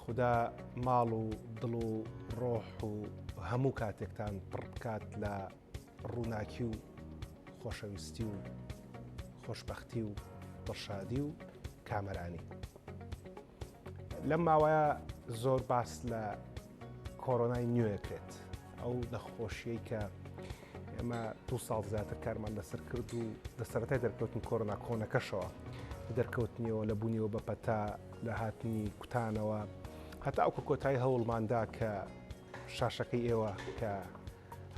خودا ماڵ و دڵ و ڕۆح و هەموو کاتێکتان پڕ بکات لە ڕووناکی و خۆشەویستی و خۆشببختی و دڵشادی و کامەرانی لەم ماوەیە زۆر باس لە کۆرۆنای نوێکرێت ئەو نەخۆشیەی کە ئێمە دوو ساڵ زیاتر کارمان لەسەر کرد و لە سەرەتای دەرکەوتن کۆرۆنا کۆنەکەشەوە دەرکەوتنیەوە لە بوونیەوە بە پەتا لە هاتنی کوتانەوە هەتا ئەو کۆتایی هەوڵماندا کە شاشەکەی ئێوە کە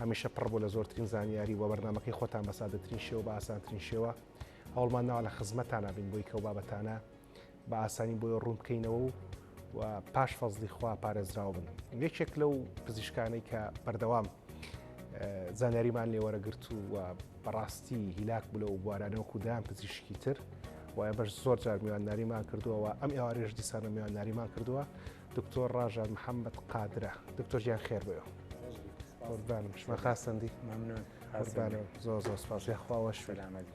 هەمیشە پڕ بۆ لە زۆرترین زانیاری و بەرنمەکەی خۆتان بە سادەترین شێوە بە ئاسانترین شێوە هەوڵمان ناوە لە خزمەتانە بین بۆی کەو بابەتانە بە ئاسانی بۆی ڕوون بکەینەوە و پاش فەزڵی خوا پارێزراو بن یەکێک لەو پزیشکانەی کە بەردەوام زانیاریمان لێوەرەگرت و و بەڕاستی هیلاک بوو لەو بوارانەوە خوددایان پزیشکی تر وایە بەش زۆر جار میوانداریمان کردووەوە ئەم ئێوارێژ دیسانە میوانداریمان کردووە دکتۆر ڕژان محەممەد قادرە دکتۆر گیان خێر بێ قوربانم شمە خاستەندی مەمنون زۆر زۆر سپاس یاخواوە شوێنامەدی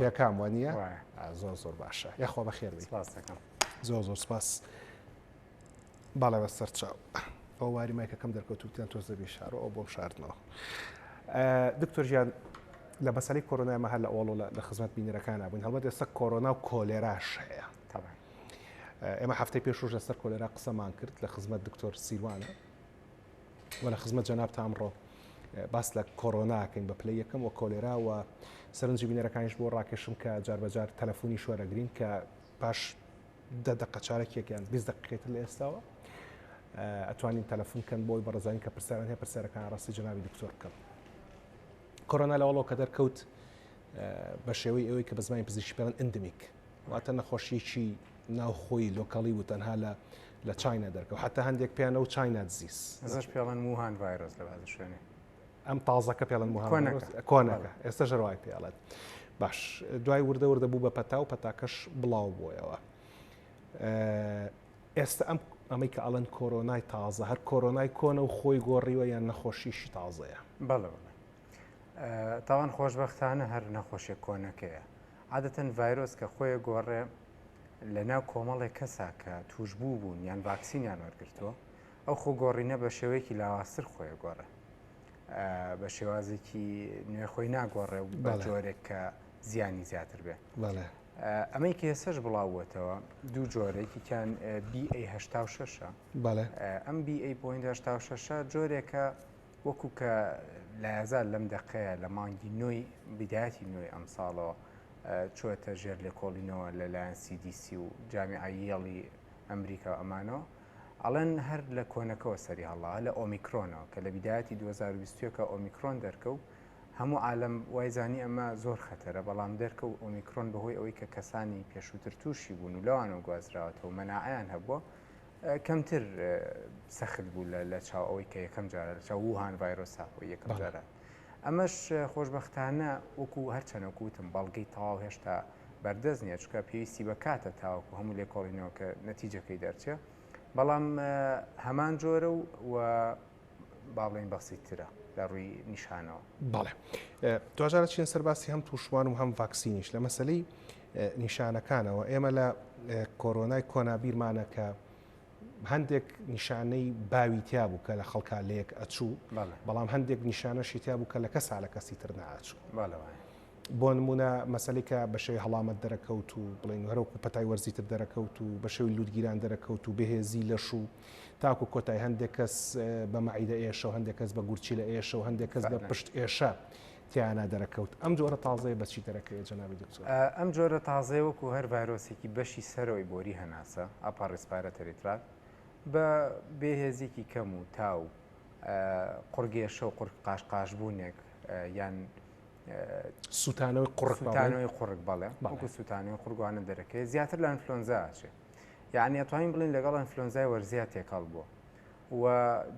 پێکام وە نییە زۆر زۆر باشە یاخۆ بە خێر زۆر زۆر سپاس باڵێ بە سەرچاو ئەو واری مایکەکەم دەرکەوتوتیان تۆز دەبی شار ئەو بۆم شاردنەوە دکتۆر ژیان لە بەسەری کۆرۆنای مەهر لە ئۆڵۆ لە خزمەت بینەرەکانە بوون هەڵبەت ئێستا کۆرۆنا و کۆلێراش هەیە ئێمە هەفتەی پێشوش لەسەر کۆلێرا قسەمان کرد لە خزمەت دکتۆر سیروانە و لە خزمەت جەنابتە ئەمڕۆ باس لە کۆرۆناکەین بە پلەی یەکەم و کۆلێرا و سەرنجی بینەرەکانیش بۆ ڕاکێشم کە جاربەجار تەلەفۆنی شوەرەگرین کە پاش دە دقە چارەکێکیان 20 دقیقێتر لە ئێستاوە ئەتوانین تەلەفۆن کەن بۆی بەڕزانین کە پرسیاران هەیە پرسیارەکان ڕاستی جنابی دکتۆر بکەم کۆرۆنا لەوەڵەوە کە دەرکەوت بە شێوەی ئەوەی کە بە زمانی پزیشکی پێڵن ئەندمیک واتە نەخۆشیەکی ناوخۆی لۆکەڵی بوو تەنها لە لە چاینا دەرکەوت حتا هەندێک پێیان ئەو چاینا دزیز ئەزش پێڵەن موهان ڤایرۆس لە بازە شوێنێ ئەم تازەکە پێڵەن موهان کۆنەکە ئێستا ژەروای پێڵێت باش دوای وردە وردە بوو بە پەتا و پەتاکەش بڵاو بۆیەوە ئێستا ئەم ئەمەی کە ئەڵەن کۆرۆنای تازە هەر کۆرۆنای کۆنە و خۆی گۆڕیوە یان نەخۆشیشی تازەیە بەڵێ تاوان خۆشببختانە هەر نەخۆشیە کۆنەکەیە عادەتەن ڤایرۆس کە خۆێ گۆڕێ لە ناو کۆمەڵێک کەسا کە تووشبوو بوون یان ڤاکسینیان وەرگرتووە، ئەو خۆ گۆڕینە بە شێوەیەکی لاوازتر خۆێ گۆڕێ. بە شێوازێکی نوێ خۆی ناگۆڕێ و بە جۆرێک کە زیانی زیاتر بێ. ئەمەی کە ئێسەش بڵاوبووەتەوە دوو جۆرێکیان BA86 ئەم BA.86 جۆرێکە وەکو کە لایەزال لەم دەقەیە لە مانگی نۆی بیدایەتی نۆی ئەمساڵەوە چووەتە ژێر لێکۆڵینەوە لە لایەن سی دی سی و جامیعە یێڵی ئەمریکا و ئەمانەوە ئەڵێن هەر لە کۆنەکەوە سەری هەڵاوە لە ئۆمیکرۆنەوە کە لە بیدایەتی دوو هەزار و بیست و یەک ئۆمیکرۆن دەرکەوت هەموو عالەم وای زانی ئەمە زۆر خەتەرە بەڵام دەرکەوت ئۆمیکرۆن بەهۆی ئەوەی کە کەسانی پێشووتر تووشی بوون و لەوانەوە گوازراوەتەوە مەناعەیان هەبووە کەمتر سەخت بوو لە چاو ئەوەی کە یەکەم جارە لە چاو ووهان ڤایرۆس ساپۆ یەکەم جارە ئەمەش خۆشببختانە وەکو هەرچەنەوەکو وتم بەڵگەی تەواو هێشتا بەردەست نیە چکە پێویستی بە کاتە تاوەکو هەموو لێکۆڵینەوە کە نەتیجەکەی دەرچێ بەڵام هەمان جۆرە و با بڵێین بەسیتترە لە ڕووی نیشانەوە. بەڵێ دواجارە چین سەرباسی هەم تووشبووان و هەم ڤاکسینیش لە مەسلەی نیشانەکانەوە ئێمە لە کۆرۆنای کۆنابیرمانە کە هەندێک نیشانەی باوی تیا بوو کە لە خەڵکا لەیەک ئەچوو بەڵام هەندێک نیشانەشی تیا بوو کە لە کەسا لە کەسی تر ناچوو بۆ نمونە مەسەلەی کە بە شێوی هەڵامەت دەرەکەوت و بڵین هەرۆک و پەتای وەرزیتر دەرەکەوت و بە شێوی لووتگیران دەرەکەوت و بەهێزی لەش و تاکو کۆتای هەندێک کەس بە مەعیدە ئێشە و هەندێک کەس بە گورچی لە ئێشە و هەندێک کەس بە پشت ئێشە تیانە دەرەکەوت ئەم جۆرە تازەیە بەچی دەرەکەی جەنابی دکتۆر ئەم جۆرە تازەیە وەکو هەر ڤایرۆسێکی بەشی سەرەوەی بۆری هەناسە ئەپا ڕیسپارە تەریترات بە بێهێزیکی کەم و تاو قڕگێشە و قڕ قاش قاشبوونێک یان سووتانەوەی قڕکانەوەی قڕک بەڵێ بەڵکو سووتانەوەی قورگوانە دەرەکەی زیاتر لە ئەنفلۆنزاچێ یعنی ئەتوانین بڵین لەگەڵ ئەنفلۆنزای وەرزیا تێکەڵ بووە و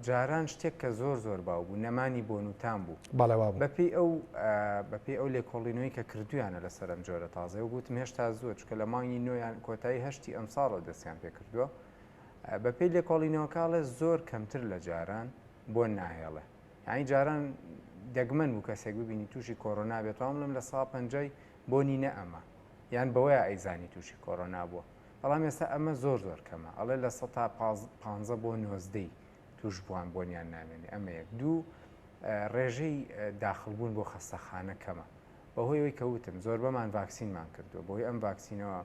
جاران شتێک کە زۆر زۆر باو بوو نەمانی بۆ نووتان بوو بەڵێوا بەپی ئەو بەپی ئەو لێکۆڵینەوەی کە کردویانە لە سەرم جۆرە تازە و گوتم هێشتا زۆر چکە لە مانگی نوۆیان کۆتایی هەشتی ئەمساڵەوە دەستیان پێ کردووە بەپی لێکۆڵینەوەکڵێ زۆر کەمتر لە جاران بۆن ناهێڵێ یعنی جاران دەگمەن بوو کەسێک ببینی تووشی کۆرۆنا بێت وام لەم لە سا پەنجەی بۆنی نە ئەمە یان بەوەیە ئەیزانی تووشی کۆرۆنا بووە بەڵام ئێستا ئەمە زۆر زۆر کەمە ئەڵێ لە سە تا پ بۆ نۆزدەی توش بووان بۆنیان نامێنێ ئەمە یەک دوو ڕێژەی داخلبوون بۆ خەستەخانە کەمە بەهۆی ئەوی کەوتم زۆر بەمان ڤاکسینمان کردو بۆی ئەم ڤاکسینەوە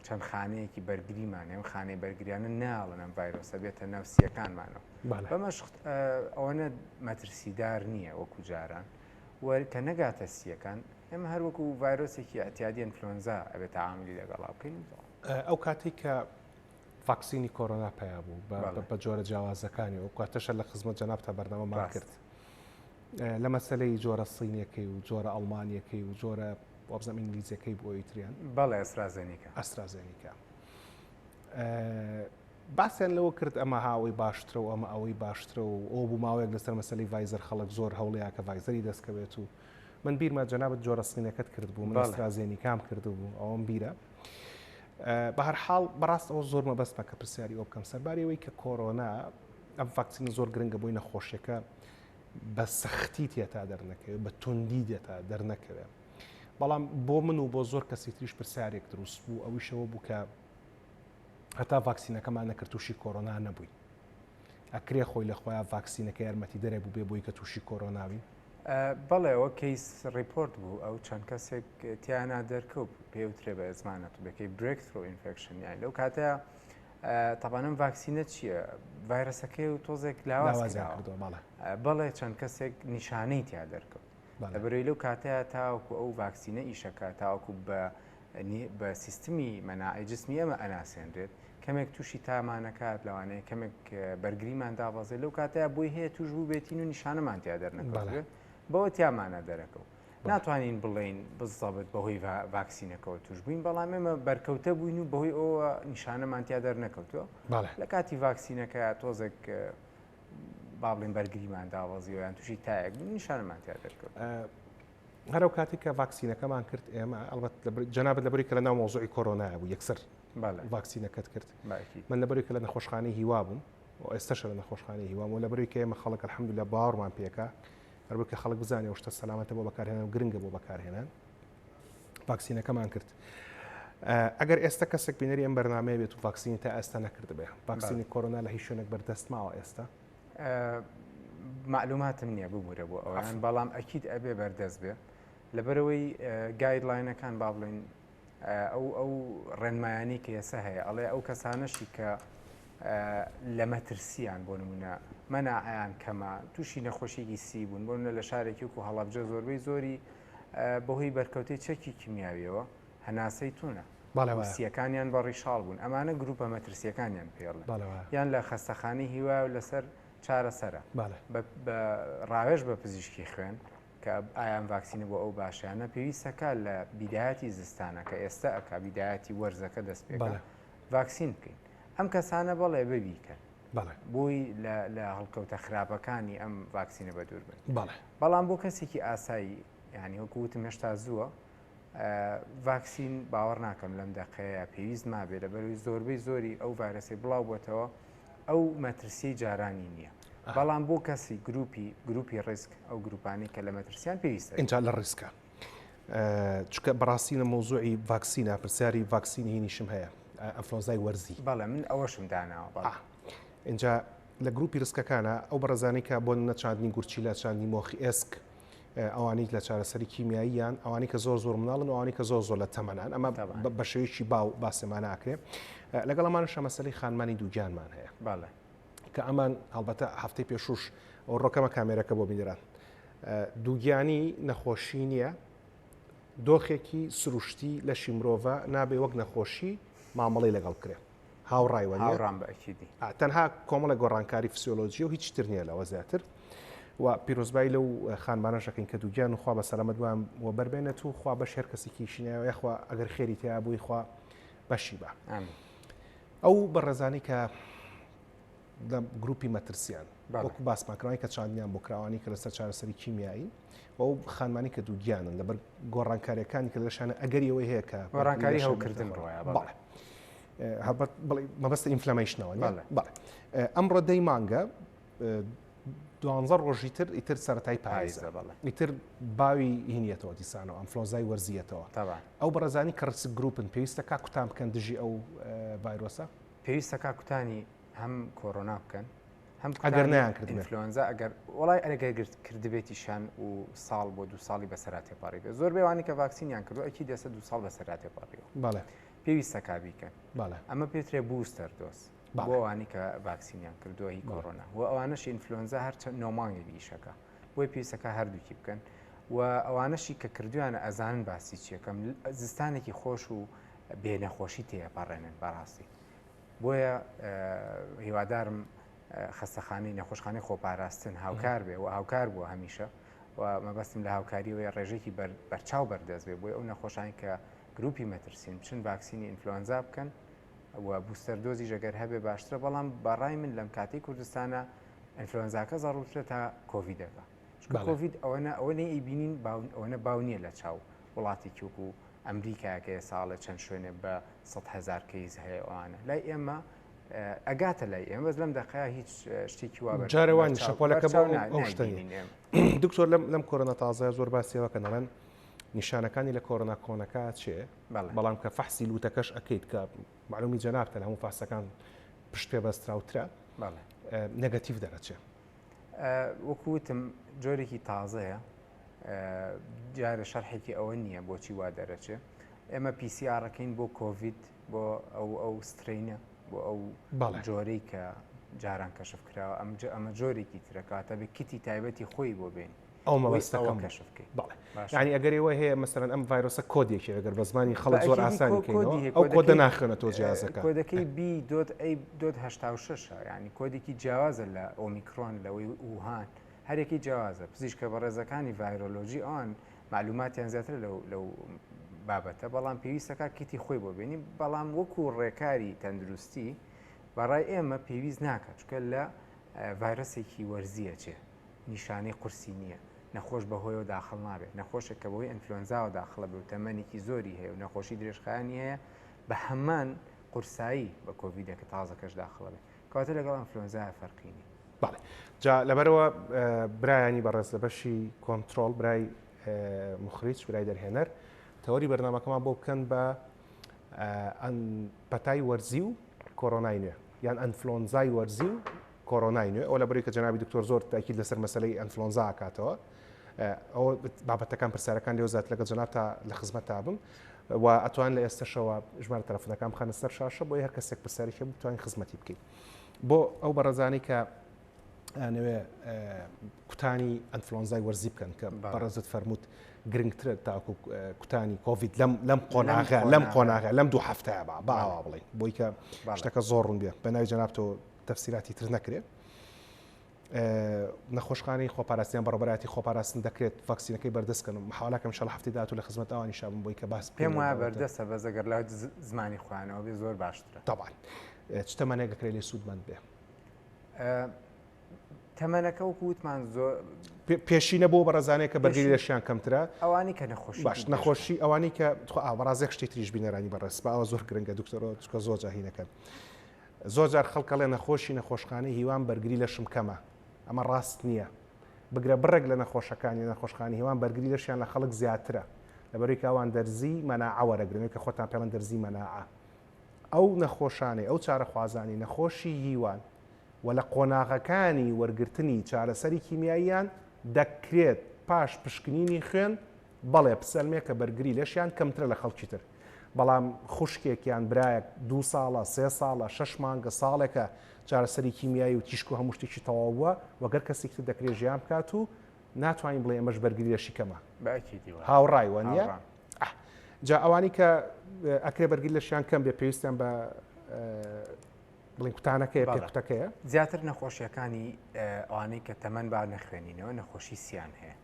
چەند خانەیەکی بەرگریمان ئەم خانەی بەرگریانە ناڵن ئەم ڤایرۆسە بێتە ناو سیەکانمانەوە بەمەش ئەوەنە مەترسیدار نییە وەکو جاران کە نەگاتە سیەکان ئێمە هەروەکو ڤایرۆسێکی ئەتیادیان فلۆنزا ئەبێت تاعااملی لەگەڵا بکەین ئەو کاتی کە ڤاکسینی کۆرۆنا پیا بوو بە جۆرە جیاوازەکانی و کاتەشە لە خزمەت جەناب تا بەرنامە ماکرد لە مەسلەی جۆرە سینیەکەی و جۆرە ئەڵمانیەکەی و جۆرە وابزانم ئینگلیزیەکەی بوو ئەویتریان بەڵێ ئەسرازێنیکە ئەسرازێنیکە باسیان لەوە کرد ئەمە هاوەی باشترە و ئەمە ئەوەی باشترە و ئەو بوو ماوەیەک لەسەر مەسلی ڤایزەر خەڵک زۆر هەوڵەیە کە ڤایزەری دەستکەوێت و من بیرمە جەنابەت جۆرە سمینەکەت کرد بوو مەسترازێنی کام کردو بوو ئەوم بیرە بە هەر حاڵ بەڕاست ئەوە زۆر مەبەست بە کە پرسیاری ئەو بکەم سەربارەوەی کە کۆرۆنا ئەم فاکسین زۆر گرنگە بۆی نەخۆشیەکە بە سەختی تێتا دەرنەکەوێت بە توندی دێتا دەرنەکەوێت بەڵام بۆ من و بۆ زۆر کەسی تریش پرسیارێک دروست بوو ئەویشەوە بوو کە هەتا ڤاکسینەکەمان نەکرد تووشی کۆرۆنا نەبووی ئەکرێ خۆی لە خۆیان ڤاکسینەکە یارمەتی دەرێ بوو بێ بۆی کە تووشی کۆرۆناوی بەڵێەوە کەیس ریپۆرت بوو ئەو چەند کەسێک تیانا دەرکەوت پێوترێ بە ئەزمانەت بەکەی برێکترۆ ئینفکشن یان لەو کاتە تابان ئەم ڤاکسینە چییە؟ ڤایرەسەکەی و تۆزێک لاواز کردوە بەڵێ بەڵێ چەند کەسێک نیشانەی تیا دەرکەوت لە بەرەی لەو کاتەیە تاوەکو ئەو ڤاکسینە ئیشەکە تاوەکو بە بە سیستمی مەناعی جسمی ئەمە ئەناسێنرێت کەمێک تووشی تامانەکات لەوانەیە کەمێک بەرگریمان دابەزێت لەو کاتەیە بۆی هەیە توش بوو بێتین و نیشانەمان تیا دەرنەکەڵێت بەوە تیامانە دەرەکەوت ناتوانین بڵێین بزەبت بەهۆی ڤاکسینەکەەوە توش بووین بەڵام ئێمە بەرکەوتە بووین و بەهۆی ئەوە نیشانەمان تیا دەرنەکەوتووە لە کاتی ڤاکسینەکە تۆزێک بابلین بەرگریمان داوازیوەیان تووشی تایەک بوو نیشانەمان تیا دەرکەوت هەرو کاتی کە ڤاکسینەکەمان کرد ئێمە ئەڵبەت جنابەت لەبری کە لە ناو مۆزۆی کۆرۆنای بوو یەکسەر ڤاکسینەکەت کرد من لەبری کە لە نەخۆشخانەی هیوا بووم ئێستاشە لە نەخۆشخانەی هیوام و لەبری کە ئێمە خەڵک الحمدللا باوەڕمان پێکە هەر بۆیە کە خەڵک بزانێ ئەو شتە سەلامەتە بۆ بەکارهێنان و گرنگە بۆ بەکارهێنان ڤاکسینەکەمان کرد ئەگەر ئێستا کەسێک بینەری ئەم بەرنمەیە بێت و ڤاکسینی تا ئێستا نەکردبێ ڤاکسینی کۆرۆنا لە هیچ شوێنێک بەردەست ماوە ئێستا معلوماتم نییە ببوورە بۆ ئەوان بەڵام ئەکییت ئەبێ بەردەست بێ لەبەرەوەی گایدلاینەکان با بڵین ئەو ئەو ڕێنمایانەی کە ئێسە هەیە ئەڵێ ئەو کەسانەشی کە لە مەترسیان بۆ نمونە مەناعیان کەمە تووشی نەخۆشیێکی سی بوون بۆن لە شارێکی و هەڵبجە زۆربەی زۆری بەهۆی بەرکەوتەی چەکی کیمیاویەوە هەناسەی تونە بەڵێوەسیەکانیان بە ڕیشاڵ بوون ئەمانە گروپە مەترسیەکانیان پێڵ یان لە خەستەخانی هیوا و لەسەر چارەسەرە بە ڕاوێژ بە پزیشکی خوێن کە ئایا ئەم ڤاکسینە بۆ ئەو باشە یان نا پێویست ئەکا لە بیدایەتی زستانە کە ئێستە ئەکا بیدایەتی وەرزەکە دەست پێ بەڵێ. ڤاکسین بکەین ئەم کەسانە بەڵێ ببیکەن بەڵێ. بۆی لە لە هەڵکەوتە خراپەکانی ئەم ڤاکسینە بە دوور بن بەڵێ. بەڵام بۆ کەسێکی ئاسایی یعنی وەکو وتم هێشتا زووە ئە، ڤاکسین باوەڕ ناکەم لەم دەقەیە پێویست مابێ لەبەروی زۆربەی زۆری ئەو ڤایرەسەی بڵاو بۆتەوە ئەو مەترسیی جارانی نییە. بەڵام بۆ کەسی گروپی گروپی ڕیسک ئەو گروپانی کە لە مەترسیان پێویستە ئینجا لە ڕیسکە چکە بەڕاستی لە مۆزوعی ڤاکسینە پرسیاری ڤاکسین هینیشم هەیە ئەفلۆزای وەرزی بەڵێ من ئەوەشم داناوە بەڵ اینجا لە گروپی ڕسکەکانە ئەو بەڕزانانی کە بۆ نەچاندنی گورچی لە چاندنی مۆخی ئێسک ئەوانیت لە چارەسەری کیمیاییان ئەوانی کە زۆر زۆر مناڵن ئەوانی کە زۆر زۆر لە تەمەنان ئەمە بەشێویی باو باسێمانە ئاکرێ لەگەڵ ئەمان شەمەسەری خانمانی دووگیانمان هەیە باڵێ کە ئەمان هەڵبەتە هەفتەی پێشوش ئەو ڕۆکەمە کامێرەکە بۆ بینران دووگیانی نەخۆشی نییە دۆخێکی سروشتی لەشی مرۆڤە نابێ وەک نەخۆشی مامەڵی لەگەڵ کرێ هاوڕایوە هاوڕام بەکیدی تەنها کۆمەڵە گۆڕانکاری فسیۆلۆژی و هیچ تر نییە لەوە زیاتر و پیرۆزبایی لەو خانمانە شەکەین کە دووگیان وخوا بە سەلامەت وان و بەربێنێت و خوا بەش هەر کەسێکی شینایەوە یخوا ئەگەر خێری تیا بووی خوا بەشی بە. ئەو بەڕێزانەی کە لە گروپی مەترسیان وەکو باسمان کراوانی کە چاندیان بۆ کراوانی کە لەسەر چارەسەری کیمیایی ئەو خانمانی کە دووگیانن لەبەر گۆڕانکاریەکانی کە لەشانە ئەگەری ئەوەی هەیە کە گۆڕانکاری هەوکردن ڕایە مەبەست ئینفلامەیشنەوە ئەمڕۆ دەی مانگە دوانزە ڕۆژی تر ئیتر سەتای پایزە ئیتر باوی هینیەتەوە دیسانەوە ئەمفلۆزای وەرزیەتەوە ئەو بەڕزانی کە ڕسک گروپن پێویستە کا کوتان بکەن دژی ئەو ڤایرۆسە پێویستە کا کوتانی هەم کۆرۆنا بکەن هەم ئەگەر نیان کرد ئەفلۆنزا ئەگەر وڵای ئەرەگەر گرت کردبێتی شان و ساڵ بۆ دو ساڵی بەسەرا تێپاری بێت زۆر بێوانی کە ڤاکسینیان کردو ئەکی دەسە دو ساڵ بەسەرا تێپاریەوە بەڵێ پێویستە کابیکەن بەڵێ ئەمە پێترێ بوستەر دۆست بۆ ئەوانەی کە ڤاکسینیان کردووە هی کۆرۆنا و ئەوانەش ئینفلۆنزا هەر نۆ مانگێک ئیشەکە بۆی پێویستەکە هەردووکی بکەن و ئەوانەشی کە کردویان ئەزانن باسی چیەکەم زستانێکی خۆش و بێ نەخۆشی تێپەڕێنن بەڕاستی بۆیە هیوادارم خەستەخانەی نەخۆشخانەی خۆپاراستن هاوکار بێ و هاوکار بووە هەمیشە و مەبەستم لە هاوکاریەوەی ڕێژێکی بەرچاو بەردەست بێ بۆی ئەو نەخۆشانی کە گروپی مەترسین بچن ڤاکسینی ئینفلۆنزا بکەن و بوستەر دۆزیش ئەگەر هەبێ باشترە بەڵام بەڕای من لەم کاتی کوردستانە ئەنفلۆنزاکە زەڕوترە تا کۆڤیدەکە کۆڤید ئەوەنە ئەوە نەی ئەیبینین باون ئەوەنە باو نییە لە چاو وڵاتی کیوک و ئەمریکاکەیە ساڵێ چەند شوێنێ بە هزار کەیز هەیە ئەوانە لای ئێمە ئەگاتە لای ئێمە بەس لەم دەقەیە هیچ شتێکی وا جارەوان شەپۆلەکە ئەوشتنی دکتۆر لەم لەم کۆرۆنا تازای زۆر باسیەوە کە نەڵێن نیشانەکانی لە کۆرۆنا کۆنەکە چێ بەڵام کە فەحسی لوتەکەش ئەکەیت کە معلومی جەنابتە لە هەموو فاسەکان پشت پێ بەستراوترە نەگەتیف دەرەچێ وەکوتم جۆرێکی تازەیە جارە شەرحێکی ئەوە نییە بۆچی وا دەرەچێ ئێمە پیسیارەکەین بۆ کۆڤید بۆ ئەو ئەو سترینە بۆ ئەو جۆرەی کە جاران کەشف کراوە ئەمجا ئەمە جۆرێکی ترەکاتە بە کیتی تایبەتی خۆی بۆ بێن ئەو مەبەستەکەم کەشف بکەیت بەڵێ باشە. یعنی ئەگەر ئێوە هەیە مەسەرەن ئەم ڤایرۆسە کۆدێکی ئەگەر بە زمانی خەڵک بە زۆر ئەکیدی ئاسانی کۆ- کۆدی بکەینەوە هەیە، ئەو کۆدەکەی- کۆدە ناخوێنە تۆ جیازەکە کۆدەکەی بی دۆت ئەی دۆت هەشتا و شەش یعنی کۆدێکی جیاوازە لە ئۆمیکرۆن لەوەی ووهان هەرێکی جیاوازە پزیشکە بەڕێزەکانی ڤایرۆلۆجی ئەوان معلوماتیان زیاترە لەو لەو بابەتە بەڵام پێویستە کار کیتی خۆی بۆ بێنی بەڵام وەکو ڕێکاری تەندروستی بەڕای ئێمە پێویست ناکات چونکە لە ڤایرۆسێکی وەرزیە چێ نیشانەی قورسی نییە، نەخۆش بەهۆیەوە داخڵ نابێت، نەخۆشێک کە بەهۆی ئەنفلۆنزاوە داخڵە بێ و تەمەنێکی زۆری هەیە و نەخۆشی درێژخایەنی هەیە بە هەمان قورسایی بە کۆڤیدەکە تازەکەش داخڵە بێت کەواتە لەگەڵ ئەنفلۆنزایە فەرقی نییە. بەڵێ جا لەبەرەوە برایانی بەڕێز لە بەشی کۆنترۆڵ برای مخریج برای دەرهێنەر تەوەری بەرنمەکەمان بۆ بکەن بە پەتای وەرزی و کۆرۆنای نوێ یان ئەنفلۆنزای وەرزی و کۆرۆنای نوێ ئەوە لەبەرەوەی کە جەنابی دکتۆر زۆر تاکید لەسەر مەسەلەی ئەنفلۆنزا ئەکاتەوە ئەوە بابەتەکان پرسیارەکان لێو زیات لەگەڵ جەناب تا لە خزمەت تا بم و ئەتوان لە ئێستەشەوە ژمارە تەلەفۆنەکان بخەنە سەر شاشە بۆ هەر کەسێک پرسیاری هەبوو بتوانین خزمەتی بکەین بۆ ئەو بەڕێزانەی کە نوێ کوتانی ئەنفلۆنزای وەرزی بکەن کە بەڕێزت فەرمووت گرنگترە تاکو کوتانی کۆڤید لەم لەم قۆناغە لەم قۆناغە لەم دوو هەفتەیە باوە بڵێ بۆی کە شتەکە زۆر ڕوون بێ بە ناوی جەنابەوە تەفسیراتی تر نەکرێت نەخۆشخانەی خۆپاراستنیان بەڕبەراتی خۆپاراستن دەکرێت ڤاکسینەکەی بەردەستکەن و حاڵەکەم شەڵ هەفتی داات و لە خزمەت ئەوانی شابم بۆی کە باس پێم وایە بەردەستە بە زەگەر لە زمانی خوانەوە بێ زۆر باشترە تاوان تەمەنێک دەکرێت لێ سوودمەند بێ تەمەەکە و کووتمان زۆر پێشینە بۆ بەڕزانەیە کە بەگەری لەشیان کەمترە ئەوانی کە نەخۆش باش نەخۆشی ئەوانی کە تو ئاوەڕازێک شتی تریش بینەرانی بەڕێز باوە زۆر گرنگە دکتۆرۆ چکە زۆر جاهینەکەن. زۆر جار خەڵک ئەڵێ نەخۆشی نەخۆشخانەی هیوام بەرگری لەشم کەمە ئەمە ڕاست نییە بگرە بڕێک لە نەخۆشەکانی نەخۆشخانەی هیوام بەرگری لەشیان لە خەڵک زیاترە لەبەرەوەی کە ئەوان دەرزی مەناعە وەرەگرن وەک کە خۆتان پێڵێن دەرزی مەناعە ئەو نەخۆشانەی ئەو چارەخوازانی نەخۆشی هیوان و لە قۆناغەکانی وەرگرتنی چارەسەری کیمیاییان دەکرێت پاش پشکنینی خوێن بەڵێ پسرمێ کە بەرگری لەشیان کەمترە لە خەڵکی تر بەڵام خوشکێک یان برایەک دوو ساڵە سێ ساڵە شەش مانگە ساڵێکە چارەسەری کیمیایی و تیشک و هەموو شتێکی تەواو بووە وەک هەر کەسێکی تر دەکرێت ژیان بکات و ناتوانین بڵێ ئەمەش بەرگری لەشی کەمە بە ئەکیدی وایە هاوڕای وە نییە هاوڕام. ئەه. جا ئەوانی کە ئە، ئەکرێ بەرگری لەشیان کەم بێ پێویستیان بە ئە، بڵین کوتانەکەیە بەڵێ. پێکوتەکەیە زیاتر نەخۆشیەکانی ئەوانەی کە تەمەن با نەخوێنینەوە نەخۆشی سیان هەیە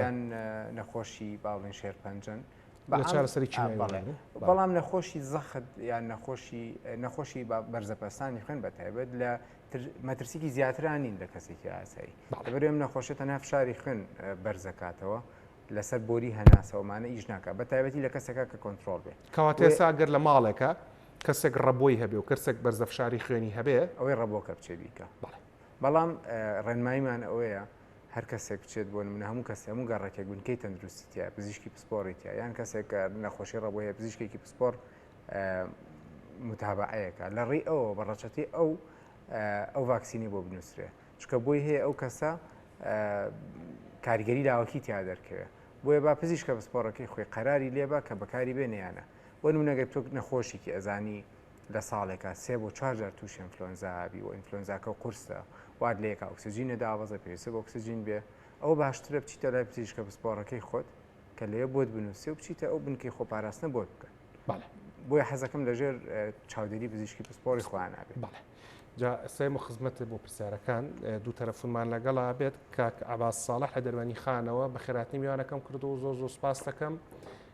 یان نەخۆشی باڵین شێرپەنجەن بەڵام نەخۆشی زەخت یان نەخۆشی نەخۆشی بەرزەپەستانی خوێن بە تایبەت لە مەترسیکی زیاترانین لە کەسێکی ئاسایی بەرێم نەخۆشە تەنها فشاری خوێن بەرزەکاتەوە لەسەر بۆری هەناسەوەمانە ئیش ناکە بە تایبەتی لە کەسەکە کە کۆنتترۆل بێت کەواتێ ساگەر لە ماڵێکە کەسێک ڕەبۆی هەبێ و کەسێک بەرزەفشاری خوێنی هەبێ ئەوەی ڕەبۆکە بچێ بیکە بەڵام ڕێنماییمان ئەوەیە هەر کەسێک بچێت بۆ نمونە هەموو کەس هەموو گەڕەکێک بنکەی تەندروستی تیا پزیشکی پسپۆڕی تیا یان کەسێک نەخۆشی ڕەبۆ هەیە پزیشکێکی پسپۆر متابعەیەەکە لە ڕێی ئەوە بە ڕەچەتی ئەو ئەو ڤاکسینی بۆ بنووسرێ چکە بۆی هەیە ئەو کەسە کاریگەری لاوەکی تیا دەرکەوێت بۆیە با پزیشکە پسپۆڕەکەی خۆی قەراری لێبا کە بەکاری بێنیانە وە نمونەگە تۆک نەخۆشیکی ئەزانی لە ساڵێکا سێ بۆ چوار جار تووشی ئینفلۆنزا بی و ئینفلۆنزاکە قورسە وات لە یەکا ئۆکسجینە دابەزە پێویستە بە ئۆکسجین بێ ئەوە باشترە بچیتە لای پزیشکە پسپۆڕەکەی خۆت کە لەوێ بۆت بنووسێ و بچیتە ئەو بنکەی خۆپاراستنە بۆت بکەن بۆی حەزەکەم لەژێر چاودێری پزیشکی پسپۆری خۆیان نابێت بەڵێ. جا سەیم و خزمەت بۆ پرسیارەکان دوو تەرەفونمان لەگەڵا بێت کاک عباس ساڵح لە دەروانی خانەوە بە خێراتنی میوانەکەم کردو زۆر زۆر سپاس دەکەم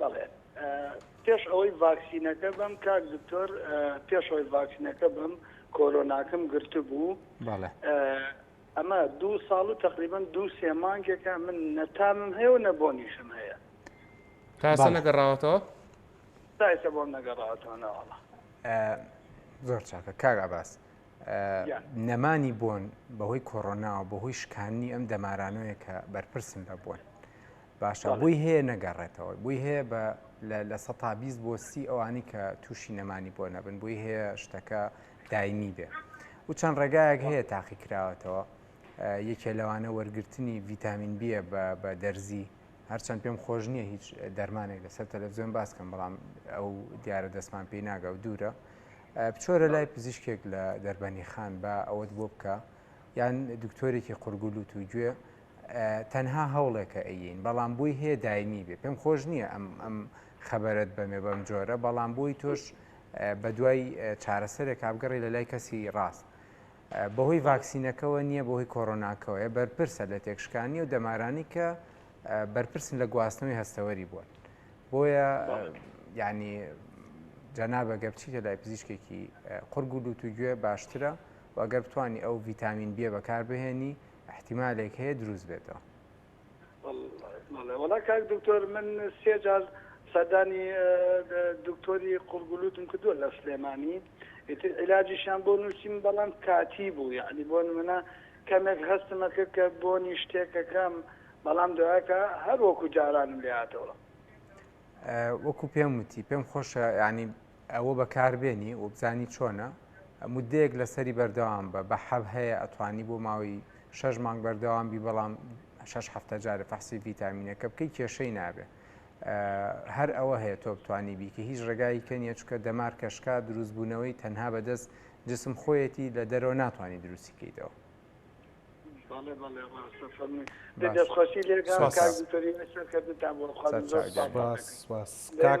بەڵێ پێش ئەوەی ڤاکسینەکە بەم کاک دکتۆر پێش ئەوەی ڤاکسینەکە بەم کۆرۆناکەم گرتبوو ئەمە دوو ساڵ و تقریبن دوو سێ مانگێکە من نەتامم هەیە و نەبۆنیشم هەیە تاسە نەگەڕاوەتەوە تایسە بۆم نەگەڕاوەتەوە ناوەڵە زۆر چاکە کاگا باس نەمانی بۆن بەهۆی کۆرۆناوە بەهۆی شکانی ئەم دەمارانەیە کە بەرپرسن لە بۆن باشە بۆی هەیە نەگەڕێتەوە بۆی هەیە بە لە سە تا بیست بۆ سی ئەوانی کە تووشی نەمانی بۆ نەبن بۆی هەیە شتەکە دایمی بێ و چەند ڕێگایەک هەیە تاقی کراوەتەوە یەکێ لەوانە وەرگرتنی ڤیتامین بیە بە دەرزی هەرچەند پێم خۆش نییە هیچ دەرمانێک لەسەر تەلەڤزیۆن باسکەم بەڵام ئەو دیارە دەستمان پێی ناگە و دوورە بچۆرە لای پزیشکێک لە دەربەنی خان بە ئەوەت بۆ بکە یان دکتۆرێکی قورگولوت و گوێ تەنها هەوڵێکە ئەیین بەڵام بۆی هەیە دایمی بێ پێم خۆش نییە ئەم ئەم خەبەرت بەمێ بەم جۆرە بەڵام بۆی تۆش بە دوای چارەسەرێک کابگەڕی لە لای کەسی ڕاست بەهۆی ڤاکسینەکەەوە نییە بۆهی کۆرۆناکەوەیە بەرپرسە لە تێکشکانی و دەمارانی کە بەرپرسن لە گواستنەوەی هەستەوەری بوون بۆیە ینی جەنابە گە بچیتە لای پزیشکێکی قڕگولوت و گوێ باشترە و ئەگەر بتانی ئەو ڤیتامین بیە بەکاربهێنی ئیحتیمالێک هەیە دروست بێتەوە. بەڵێ وەڵا کاک دکتۆر من سێ جار سەردانی دکتۆری قوڕگولوتم کردووە لە سلێمانی ئیتر عیلاجیشیان بۆ نووسیم بەڵام کاتی بوو یعنی بۆ نمونە کەمێک هەستمە کرد کە بۆنی شتێکەکەم بەڵام دوایەکە هەر وەکو جارانم لێاتەوە وەکو پێم وتی پێم خۆشە ینی ئەوە بەکاربێنی و بزانی چۆنە مدەیەک لەسەری بەردەوام بە بە حەب هەیە ئەتوانی بۆ ماوەی شەش مانگ بەردەوام بی بەڵام شش هەفتە جارە فەحسی ڤیتامینەکە بکەی کێشەی نابێ هەر ئەوە هەیە تۆ بتانی بیکە هیچ ڕێگایی کە نیە چکە دەمار کەشکا دروستبوونەوەی تەنها بەدەست جسم خۆیەتی لە دەرەوە ناتوانانی دروستی کەیتەوە دەستخۆشی لێ کاک دکتۆری سەرکەتتان بۆ خوا سپاس سپاس کاک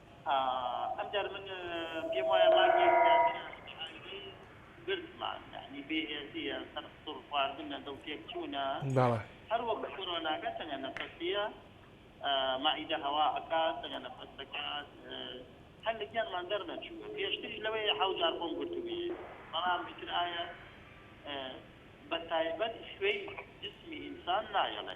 ئەم جار من پێم وایە مانگێک کاتێ ئایرەی گرتمان یەعنی بێ هێزیە سەر قسوڕ خواردنە دڵ تێک چوونە هەر وەک کۆرۆناکە تەنگە نەفەسیە مەعیدە هەوا ئەکات تەنگە نەفەس دەکات هەر لە گیانمان دەر نەچووە پێشتریش لەوەیە حەو جار خۆم گرتووی بەڵام ئیتر ئایە بە تایبەت خوێی جسمی ئینسان نایەڵێ.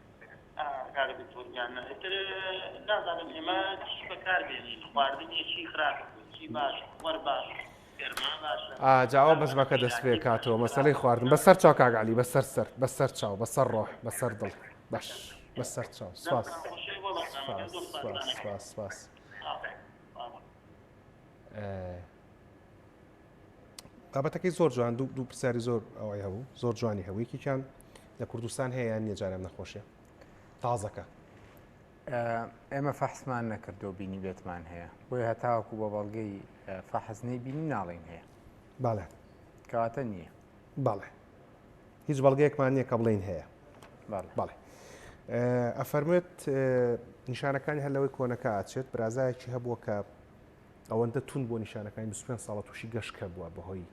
کاک دکتۆر گیان ئیتر نازانم ئێمە چی بەکار بێنین خواردنی چی خراپ چی باش وەر باش گەرما باشە ئا جاوا بەزمەکە دەست پێ کاتەوە مەسەلەی خواردن بەسەر چاو کاک علی بەسەر سەر بەسەر چاو بەسەر ڕۆح بەسەر دڵ باش بەسەر چاو سواس سواس سواس سواس سواس بابەتەکەی زۆر جوان دوو دوو پرسیاری زۆر ئەوەی هەبوو زۆر جوانی هەوویکیان لە کوردستان هەیە یان نیێجاران نەخۆشە تازەکە ئێمە فەحسمان نەکردو بینی بێتمان هەیە بۆی هەتاوەکو بە بەڵگەی فەحزنەی بینی ناڵین هەیە باڵێ کەواتە نییە باڵێ هیچ بەڵگەیەکمان نییە کە بڵین هەیە باڵێ ئەفەرمێت نیشانەکانی هەر لەوەی کۆنەکە ئاچێت برازایەکی هەبووە کە ئەوەندە توند بۆ نیشانەکانی 25 ساڵە تووشی گەشکە بووە بەهۆی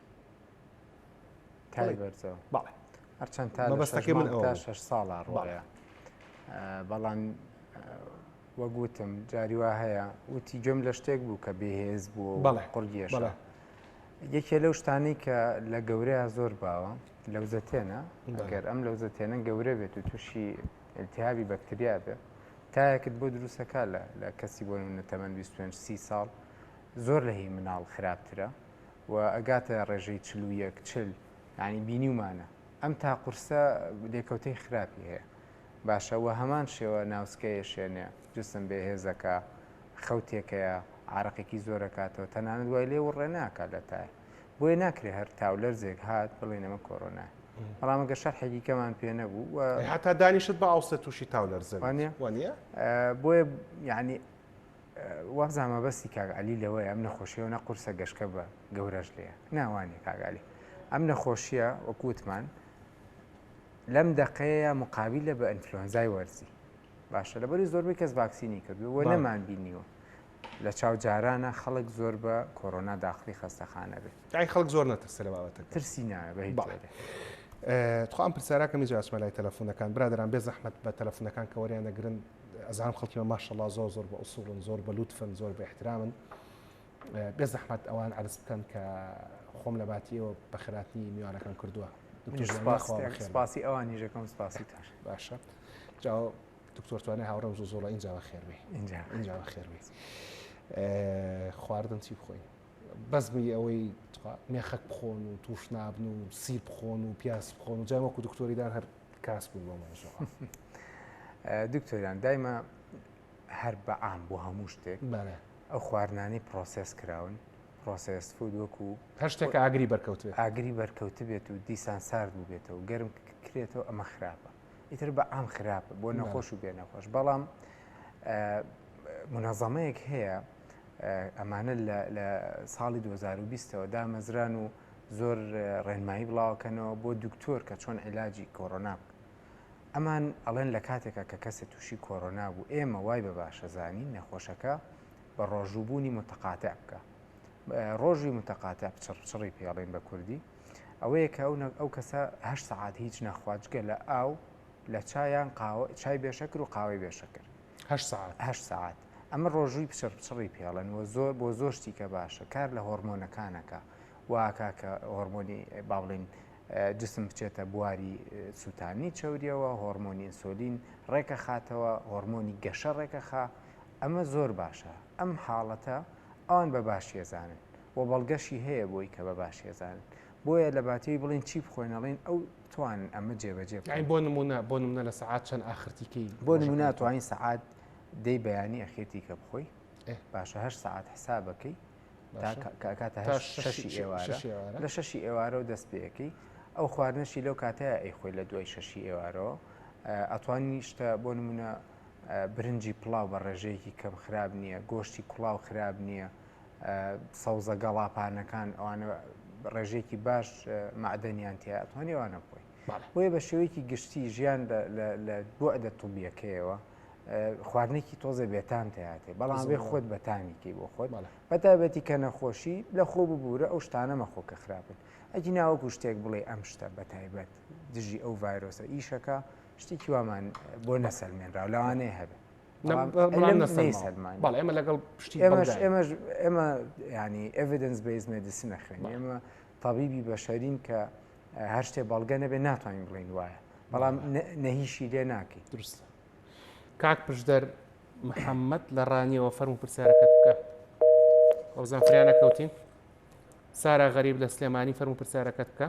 هەرچەند تا بەستەکە من تا 6 ساڵە ڕۆڵە بەڵام وەگوتم جاری وا هەیە وتی گوێم لە شتێک بوو کە بێهێز بوو بەڵێ قڕگیێش بەڵێ یەکێ لەو شتانی کە لە گەورەیە زۆر باوە لەوزەتێنە گەر ئەم لەوزەتێنە گەورە بێت و تووشی التهابی بەکتریا بێ تایەکت بۆ دروستەکە لە لە کەسی بۆ نمونە تەمەەن 25 سی ساڵ زۆر لە هی مناڵ خراپترە و ئەگاتە ڕێژەی چل و یەک چل ینی بینیمانە ئەم تا قورسە لێکەوتەی خراپی هەیە باشە وە هەمان شێوە ناوسکەیە شوێنێ جسم بێ هێزەکە خەوتێکەیە عراقێکی زۆرەکاتەوە تەنانەت وای لێ وڕێ ناکە لە تای بۆیە ناکرێ هەر تاولەرزێک هات بڵێن ئەمە کۆرۆنا بەڵام ئەگە شەرحێکی کەمان پێ نەبوو و ئەی هەتا دانیشت بە ئاوسێ تووشی تاولەرزە بێت. وانە؟ وانە؟ ئە، بۆیە یعنی وابزان مەبەستی کاک علی لەوەیە ئەم نەخۆشیەوە نە قورسە گەشکە بە گەورەش لێە ناوانێ کاک علی ئەم نەخۆشیە وەکووتمان لەم دەقەیە مقابل لە بە ئەنفلۆنزای وەرزی باشە لەبەری زۆربەی کەس ڤاکسینی کردو و بەڵێ. نەمان بینیوە لە چاو جارانە خەڵک زۆر بە کۆرۆنا داخلی خەستەخانە بێت دای خەڵک زۆر نەترسە لە بابەتە ترسی ناخوام پرسیارەکە میز ئەسمە لای تەلەفۆنەکان برادران بێ زەحمت بە تەلەفۆنەکان کە وەریان نەگرن ئەزان خەڵکی بە ماشەڵا زۆر زۆر بە ئوسوڵن زۆر بە لوتفن زۆر بە احترامن بێ زەحمت ئەوان عرس بکەن کە خۆم لە باتیەوە بە خراپی میوانەکەم کردووە سپاسی ئەوان نیژەکەم سپاسی تر باشە جاو دکتۆر توانای هاوڕێم زۆ زۆڵە اینجا بە خێر بێ اینجا بە خێر بێ خواردن چی بخۆین بەزمی ئەوەی مێخەک بخۆن و توش نابن و سی بخۆن و پیاس بخۆن و جای وەکو دکتۆریدان هەر کاس بوون بۆ مەژەوە دکتۆریان دایمە هەر بە ئام بۆ هەموو شتێک ئەو خواردنانی پرۆسس کراون پرۆسس فود وەکو هەر شتێک ئاگری بەرکەوت ئاگری بەرکەوت بێت و دیسان سارد بوو بێتەوە گەرم کرێتەوە ئەمە خراپە ئیتر بە ئام خراپە بۆ نەخۆش و بێ نەخۆش بەڵام منەزەمەیەک هەیە ئەمانە لە ساڵی 2020ەوە دامەزران و زۆر ڕێنمایی بڵاوکەنەوە بۆ دکتۆر کە چۆن عیلاجی کۆرۆنا بکە ئەمان ئەڵێن لە کاتێکە کە کەسێ تووشی کۆرۆنا بوو ئێمە وای بە باشەزانی نەخۆشەکە بە ڕۆژووبوونی متەقاتە بکە ڕۆژی متەقاتە بچڕچڕی پێڵێن بە کوردی ئەوەیە کە ئەو کەسە هەشت سەعات هیچ نەخوات جگە لە ئاو لە چایان قاوە چای بێشەکر و قاوەی بێشەکر هەشت سەعات ئەمە ڕۆژووی پچڕ پچڕی پێڵەن و زۆر بۆ زۆر شتیکە باشە کار لە هۆرمۆنەکانەکە واکە کە هۆرمۆنی با بڵێن جسم بچێتە بواری سووتانی چوریەوە هۆرمۆنی ئینسۆلین ڕێکە خاتەوە هۆرمۆنی گەشە ڕێکەخا ئەمە زۆر باشە ئەم حاڵەتە ئەوان بە باشیەزانن و بەڵگەشی هەیە بۆی کە بە باشی ئەزانن بۆیە لە باتێوی بڵێن چی بخۆن ئەڵێن ئەو توانن ئەمە جێبەجێ بکەن یانی بۆ نموونە بۆ نمونە لە سەعات چەند ئاخرتی کەی بۆ نموونە ڕۆژەکەی؟ توانین سەعات دەی بەیانی ئەخێتی کە بخۆی ئێ. باشە هەشت سەعات حسابەکەی باشە. کاتە تا هەشت- شەشی- شەشی شەشی ئێوارە ئێوارە. لە شەشی ئێوارەوە دەست پێەکەی ئەو خواردنەشی لەو کاتەیە ئەی خۆی لە دوای شەشی ئێوارەوە ئە، ئەتوانی شتە بۆ نمونە ئە، برنجی پڵاو بە ڕێژەیەکی کەم خراب نییە گۆشتی کوڵاو خراب نییە سەوزە گەڵاپانەکان ئەوانە ڕێژێکی باش معدەنیان تیا ئەتوان ئەوانە بخۆی بۆیە بە شێوەیەکی گشتی ژیان لە بۆعدە توبیەکەیەوە خواردنێکی تۆزە بێتان تیااتێ بەڵام بێ خۆت بەتانیکی بۆ خۆت بەتابەتی کە نەخۆشی لە خۆ ببوورە ئەو شتانە مەخۆ کە خراپن ئەگی ناوەکو شتێک بڵێ ئەم شتە بەتایبەت دژی ئەو ڤایرۆسە ئیشەکە شتێکی وامان بۆ نەسەلمێنرا لەوانەیە هەبێت بەڵێ ئمە لەگەڵ پشتی ئێمەش ئێمە ینی ئڤدنس بەیز مێدیسن نەخوێن ئێمە طبیبی بەشەرین کە هەر شتێ بەڵگە نەبێ ناتوانین بڵین وایە بەڵام نەهیشی لێ ناکەی درست کاک پشدەر محەممەد لە ڕانیەوە فەرم و پرسیارەکەت بکە ئەو زانفریانە کەوتین سارا غەریب لە سلێمانی فەرم و پرسیارەکەت بکە